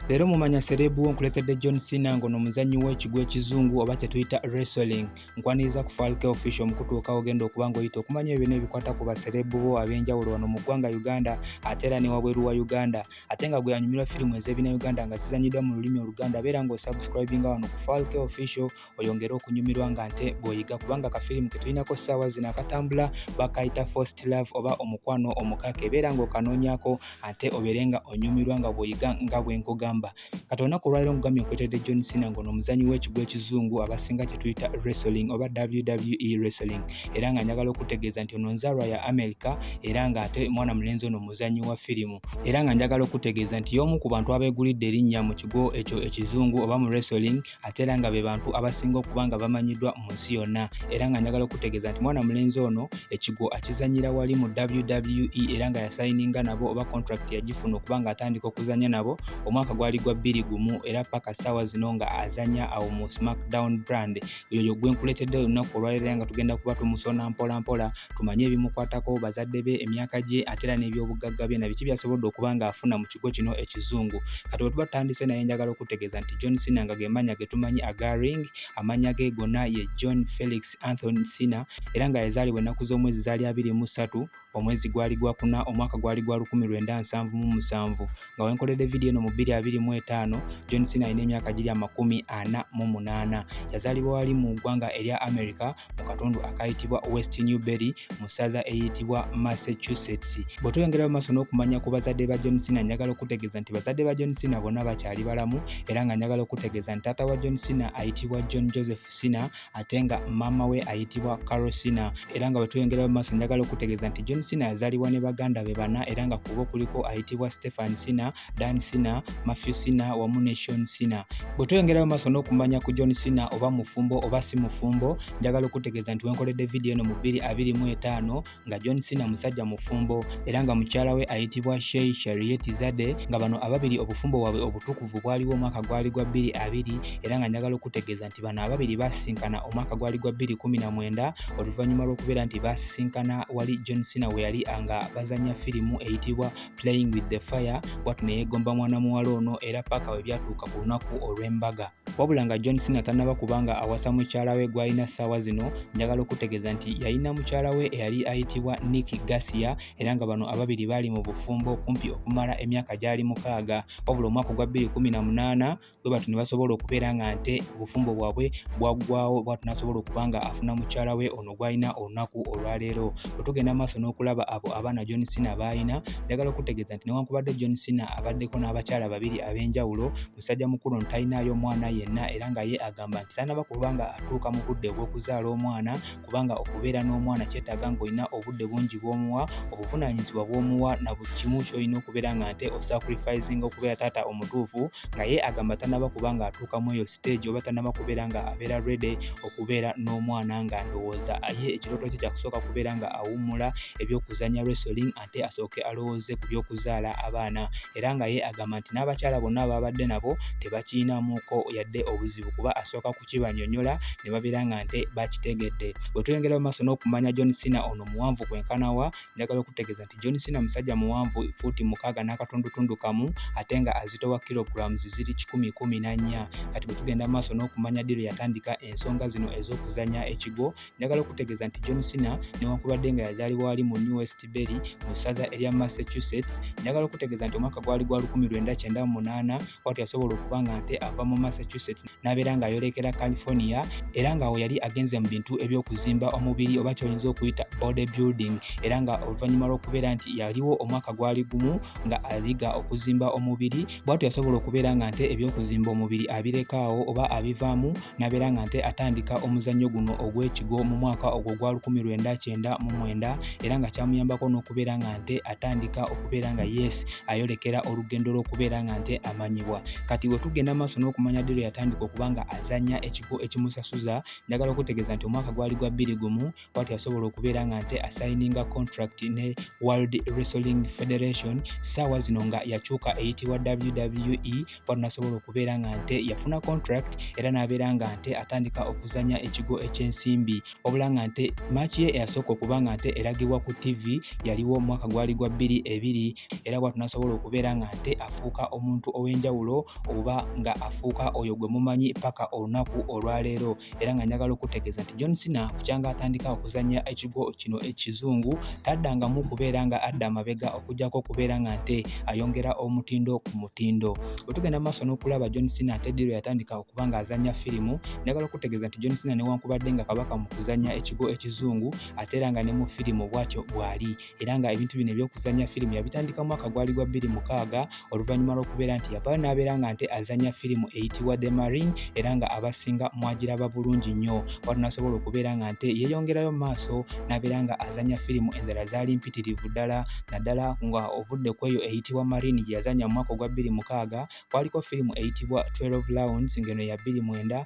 Leero mumanya serebu wo nkuletedde John Cena ngono omuzannyi w'ekigwo ekizungu oba kyetuyita wrestling. Nkwaniriza ku Falke Official omukutuuka ogenda okuba ng'oyita okumanya ebyo n'ebikwata ku baserebu bo ab'enjawulo wano mu ggwanga Uganda ate era ne wabweru wa Uganda. Ate nga gwe anyumirwa firimu ez'ebina Uganda nga zizannyidwa mu lulimi Oluganda beera ng'osubscribinga wano ku Falke Official oyongere okunyumirwa nga nte bw'oyiga kubanga kafirimu ke tulinako ssaawa zino akatambula bakayita first love oba omukwano omukaka ebeera ng'okanoonyako ate obeere nga onyumirwa nga bw'oyiga nga bwe nkugamba kati olunaku olwaliro nkugambye nkuleetedde john sina ng'ono omuzanyi w'ekigwa ekizungu abasinga kye tuyita wrestling oba wwe wrestling era nga njagala okutegeeza nti ono nzaalwa ya amerika era nga ate mwana mulenzi ono muzanyi wa firimu era nga njagala okutegeeza nti y'omu ku bantu abeegulidde erinnya mu kigo ekyo ekizungu oba mu wrestling ate era nga be bantu abasinga okuba nga bamanyiddwa mu nsi yonna era nga njagala okutegeeza nti mwana mulenzi ono ekigwo akizanyira wali mu WWE era nga yasayininga nabo oba contract yagifuna okuba nga atandika okuzanya nabo omwaka gwali gwa bbiri gumu era paka saawa zino nga azanya awo mu smackdown brand yoyo gwe nkuleetedde olunaku olwaleero nga tugenda kuba tumusona mpola mpola tumanye ebimukwatako bazadde be emyaka gye ate era n'ebyobugagga bye na biki byasobodde okuba nga afuna mu kigo kino ekizungu kati bwe tuba tutandise naye njagala okutegeeza nti john sina nga ge mannya ge tumanyi aga ring amannya ge gonna ye john felix anthony sina era nga yazaalibwa ennaku z'omwezi zaali abiri mu ssatu omwezi gwali gwa kuna omwaka gwali gwa lukumi lwenda nsanvu mu musanvu nga wenkoledde vidiyo eno mu bbiri abiri mu etaano john sina alina emyaka giri amakumi ana mu munaana yazaalibwa wali mu ggwanga erya america mu katundu akayitibwa West Newberry mu ssaza eyitibwa Massachusetts. Bwe tweyongerayo maaso n'okumanya ku bazadde ba John Cena, njagala okutegeeza nti bazadde ba John Cena bonna bakyali balamu era nga njagala okutegeeza nti taata wa John Cena ayitibwa John Joseph Cena ate nga maama we ayitibwa Carol Cena era nga bwe tweyongerayo maaso njagala okutegeeza nti John Cena yazaalibwa ne baganda be bana era nga kubo kuliko ayitibwa Stephen Cena Dan Sina, Matthew Sina wamu ne Sean Sina. Bwe tweyongerayo maaso n'okumanya ku John Sina oba mufumbo oba si mufumbo, njagala okutegeeza nti wenkoledde vidiyo eno mu 2025 nga John Sina musajja mufumbo era nga mukyala we ayitibwa Shei Sharieti Zade nga bano ababiri obufumbo bwabwe obutukuvu bwaliwo omwaka gwali gwa 22 era nga njagala okutegeeza nti bano ababiri baasisinkana omwaka gwali gwa 2019 oluvannyuma lw'okubeera nti baasisinkana wali John Sina we yali nga bazannya firimu eyitibwa playing with the fire bwatu neyegomba mwana muwala ono era paaka we byatuuka ku lunaku olw'embaga wabula nga john sina tanaba kubanga awasa mukyala we gwalina ssaawa zino njagala okutegeeza nti yalina mukyala we eyali ayitibwa nick gasia era nga bano ababiri baali mu bufumbo kumpi okumala emyaka gyali mukaaga wabula omwaka ogwa 218 bwe batyo ne basobola okubeera nga nte obufumbo bwabwe bwaggwawo bwatu n'asobola okuba nga afuna mukyala we ono gw'alina olunaku olwaleero bwe tugenda maaso n'okulaba abo abaana john sina baalina njagala okutegeeza nti newankubadde john sina abaddeko n'abakyala babiri ab'enjawulo musajja mukulu ono talinaayo omwana yenna era nga ye agamba nti tanaba kuba nga atuuka mu budde obw'okuzaala omwana kubanga okubeera n'omwana kyetaaga ng'olina obudde bungi bw'omuwa obuvunaanyizibwa bw'omuwa na buli kimu ky'olina okubeera nga nte osacrificinga okubeera taata omutuufu nga ye agamba tanaba kuba nga atuuka mu eyo stage oba tanaba kubeera nga abeera rede okubeera n'omwana nga ndowooza ye ekirooto kye kyakusooka kubeera nga awummula ebyokuzanya resoling ate asooke alowooze ku by'okuzaala abaana era nga ye agamba nti n'abakyala bonna baabadde nabo tebakiyinamuko yadde obuzibu kuba asooka kukibanyonyola ne babeera nga nte bakitegedde bwe tuyongera mu maaso n'okumanya john sina ono muwanvu kwenkanawa njagala okutegeeza nti john sina musajja muwanvu fuuti mukaaga n'akatundutundu kamu ate nga azitowa kilograms ziri kikumi kumi na nnya kati bwe tugenda mu maaso n'okumanya diro yatandika ensonga zino ez'okuzanya ekigo Njagala okutegeeza nti John Cena newankubadde nga yazaalibwa wali mu New West Berry mu ssaza erya Massachusetts, njagala okutegeeza nti omwaka gwali gwa 1998 watu yasobola okuba nga nte ava mu Massachusetts n'abeera ng'ayolekera California era ng'awo yali agenze mu bintu eby'okuzimba omubiri oba kyoyinza okuyita body building era nga oluvannyuma lw'okubeera nti yaliwo omwaka gwali gumu nga ayiga okuzimba omubiri bwatu yasobola okubeera nga nte ebyokuzimba omubiri abirekaawo oba abivaamu nabeera nga nte atandika omuzannyo guno ogw'ekigo mu mwaka ogwo gwa 1999 era nga kyamuyambako n'okubeera nga nte atandika okubeera nga yes ayolekera olugendo lw'okubeera nga nte amanyibwa kati wetugenda maaso n'okumanya ddi lwe yatandika okuba nga azanya ekigo ekimusasuza njagala okutegeeza nti omwaka gwali gwa bbiri gumu bwati asobola okubeera nga nte asayininga contract ne world wrestling federation saawa zino nga yakyuka eyitibwa wwe bwati nasobola okubeera nga nte yafuna contract era n'abeera nga nte atandika okuzanya ekigo ekyensimbi wabula nga nte maaki ye eyasooka okuba nga nte eragibwa ku tv yaliwo omwaka gwali gwa bbiri ebiri era bwati nasobola okubeera nga nte afuuka omuntu ow'enjawulo oba nga afuuka oyo gwe mumanyi paka olunaku olwaleero era nga njagala okutegeeza nti John Cena kukyanga atandika okuzannya ekigo kino ekizungu taddangamu kubeera nga adda amabega okujjako okubeera nga nte ayongera omutindo ku mutindo bwe tugenda maaso n'okulaba John Cena ate ddi lwe yatandika okuba nga azannya firimu njagala okutegeeza nti John Cena newankubadde nga kabaka mu kuzannya ekigo ekizungu ate era nga ne mu firimu bwatyo bwali era nga ebintu bino ebyokuzanya firimu yabitandika mwaka gwali gwa bbiri mukaaga oluvannyuma lw'okubeera nti yavaayo n'abeera nga nte azanya firimu eyitibwa the marine era nga abasinga mwagiraba bulungi nnyo watu nasobola okubeera nga nte yeeyongerayo maaso n'abeera nga azanya firimu endala zaali mpitirivu ddala naddala nga ovudde ku eyo eyitibwa marine gye yazanya mu mwaka ogwa bbiri mukaaga kwaliko firimu eyitibwa 12 lounds ngeno ya bbiri mwenda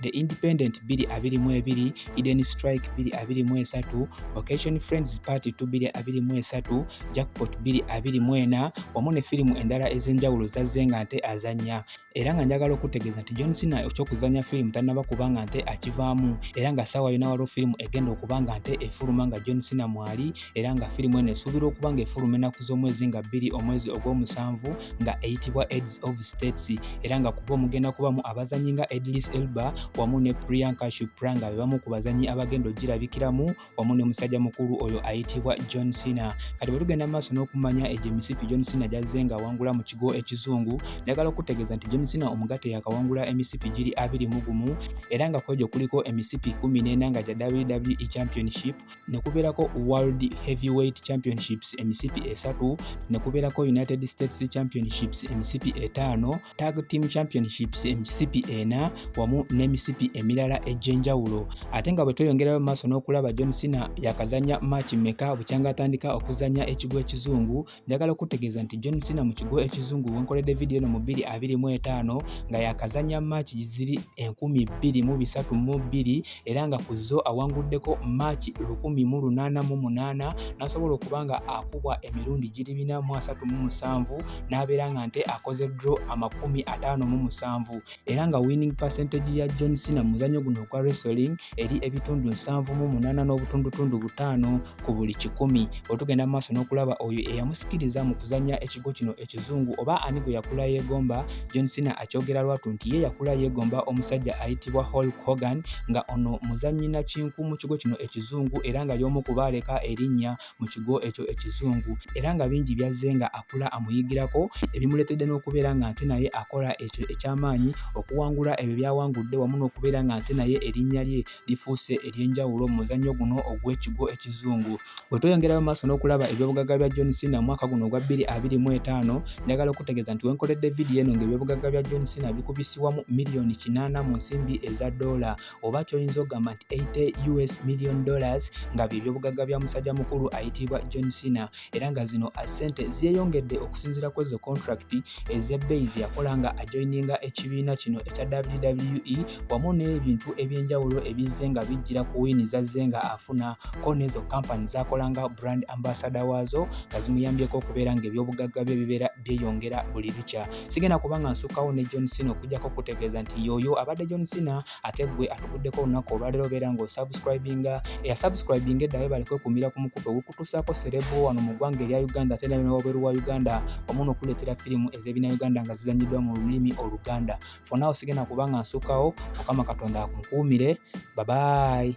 The Independent 222, Hidden Strike 223, Vocation Friends Part 2 223, Jackpot 224 wamu ne firimu endala ez'enjawulo zazze nga nte azannya era nga njagala okutegeeza nti John Cena eky'okuzannya firimu tannaba kuba nga nte akivaamu era nga ssaawa yona waliwo firimu egenda okuba nga nte efuluma nga John Cena mwali era nga firimu eno esuubirwa okuba nga efuluma ennaku z'omwezi nga bbiri omwezi ogw'omusanvu nga eyitibwa aids of states era nga kuba omugenda kubamu abazanyi nga edlis elba wamu ne priyanka shupra nga be bamu ku bazanyi abagenda okugirabikiramu wamu ne musajja mukulu oyo ayitibwa john sina kati bwe tugenda maaso n'okumanya egyo emisipi john sina gyazze nga awangula mu kigo ekizungu njagala okutegeeza nti john sina omugate yakawangula emisipi giri abiri mu gumu era nga kwegyo kuliko emisipi kumi n'ena nga gya wwe championship ne kubeerako World Heavyweight Championships emisipi esatu, ne kubeerako United States Championships emisipi etaano, Tag Team Championships emisipi ena wamu n'emisipi emirala egy'enjawulo. Ate nga bwe tweyongerayo maaso n'okulaba John Cena yakazannya maaki mmeka bukyanga atandika okuzannya ekigo ekizungu njagala okutegeeza nti John Cena mu kigo ekizungu wenkoledde vidiyo eno mu 225 nga yakazanya maaki giziri 232 era nga ku zo awanguddeko maaki 188 n'asobola okuba nga akubwa emirundi giri 437 n'abeera nga nte akoze dro 57 era nga winning percentage ya John Cena mu muzannyo guno ogwa wrestling eri ebitundu nsanvu mu munaana n'obutundutundu butaano ku buli kikumi. Otugenda mu maaso n'okulaba oyo eyamusikiriza mu kuzannya ekigo kino ekizungu oba ani gwe yakula yeegomba, John Cena akyogera lwatu nti ye yakula yeegomba omusajja ayitibwa Hulk Hogan nga ono muzannyi nakinku mu kigo kino ekizungu era nga y'omu ku baaleka erinnya mu kigo ekyo ekizungu era nga bingi byazze nga akula amuyigirako ebimuleetedde n'okubeera nga nte naye akola ekyo eky'amaanyi okuwangula ebyo byawangudde wamu n'okubeera nga nte naye erinnya lye lifuuse ery'enjawulo mu muzannyo guno ogw'ekigo ekizungu bwe tweyongerayo mu maaso n'okulaba ebyobugagga bya john sina mu mwaka guno ogwa bbiri abiri mu etaano njagala okutegeeza nti wenkoledde vidiyo eno ng'ebyobugagga bya john sina bikubisiwamu miliyoni kinaana mu nsimbi eza doola oba kyoyinza ogamba nti 80 us million dollars nga byebyobugagga bya musajja mukulu ayitiibwa john cena era nga zino asente zeyongedde okusinzira ku ezo contract ezebbeyi zeyakola nga ajoininga ekibiina kino ekya wwe wamu n'ebintu ebyenjawulo ebizze nga bijjira ku wiini zazze nga afuna ko nezo kampani zakolanga brand ambasada waazo nga zimuyambyeko okubeera nga ebyobugagga bye bibeera byeyongera buli lukya sigenda kuba nga nsukkawo ne john sina okujjako okutegeeza nti yooyo abadde john sina ate gwe atuguddeko olunaku olwaleero obeera nga osubscribinga eyasubscribinga eddawe bali kwekumira ku mukutu ogukutuusaako serebu wano mu ggwanga erya uganda ate nali newabweru wa uganda omuno okuleetera firimu ez'ebina uganda nga zizanyiddwa mu lulimi oluganda fonawo sigenda kuba nga nsukkawo mukama katonda akunkuumire babayi